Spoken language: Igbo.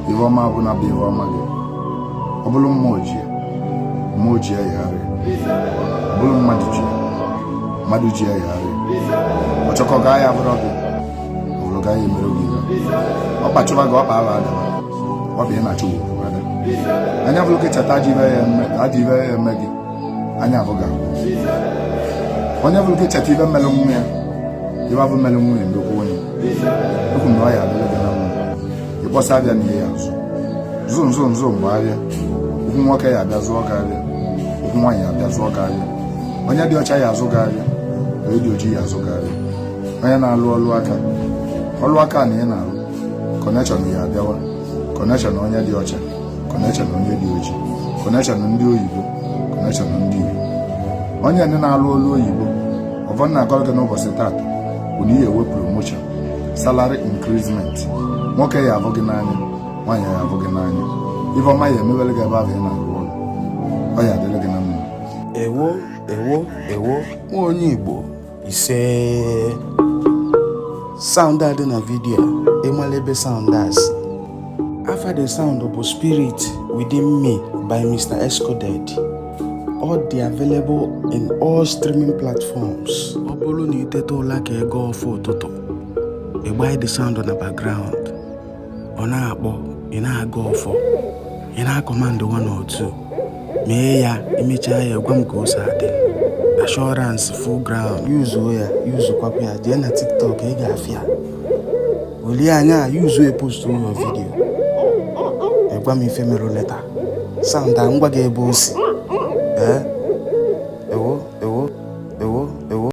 ihe ọma bụ na bụ ihe ọma gị ọ bụrụ mmụọ ji ya mmụọ ji ya yagharị ọ bụrụ mmadụ ji ya mmadụ ji ya yagharị ọchọkọ ga ya bụrụ gị ọ bụrụ ga ya emere gị ihe ọ kpachụba gị ọkpa ala adaba ọ bụ ị na-achụ ugwu anya fụrụ gị cheta adị ife ya eme gị anya abụga onye fụrụ gị cheta ife m melụ nwa ya ife afụ m melụ nwa ya ndokwa onye ekwu na ọ ya adịlị gị na mma ị kpọsa afịa n'ihe ya azụ zụ nzụ nzụ mgbe afịa okwu nwoke ya abịa zụọ gị afịa okwu nwaanyị ya abịa zụọ gị afịa onye dị ọcha ya azụ gị afịa onye dị ojii ya azụ gị afịa onye na-alụ ọlụ aka ọlụ aka na ị na-alụ kọnekshọn ya abịawa kọnekshọn onye dị ọcha kọnekshọn onye dị ojii kọnekshọn ndị oyibo kọnekshọn ndị igbo onye ndị na-alụ ọlụ oyibo ọfọ m na-agọrọ gị n'ụbọchị taata bụ na ị ya enwe promotion salary increasement nwoke ya afụ gị n'anya nwaanyị ya afụ gị n'anya ife ọma ya emebere gị ebe ahụ ị na-arụ ọrụ ọ ya adịrị gị na mma ewo ewo ewo nwa onye igbo ise sound a dị na vidio ịmala ebe sound a si afa the sound bụ spirit within me by mr escoded ọ dị available in all streaming platforms ọ bụrụ na i teta ụla ka ị gọọ ọfọ ụtụtụ ị gbanye the sound na background ọ na-akpọ ị na-agọ ọfọ ị na-akọmandụ one or two mee ya i mechaa ya ị gwa m ka o si adị assurance full ground yuzuo ya yuzukwapụ ya jee na tiktok ị ga-afụ ya online yuzuo ya postụọ vidiyo ị gwa m ife merụ later sound a m gwa gị ebe o si ee ewo ewo ewo ewo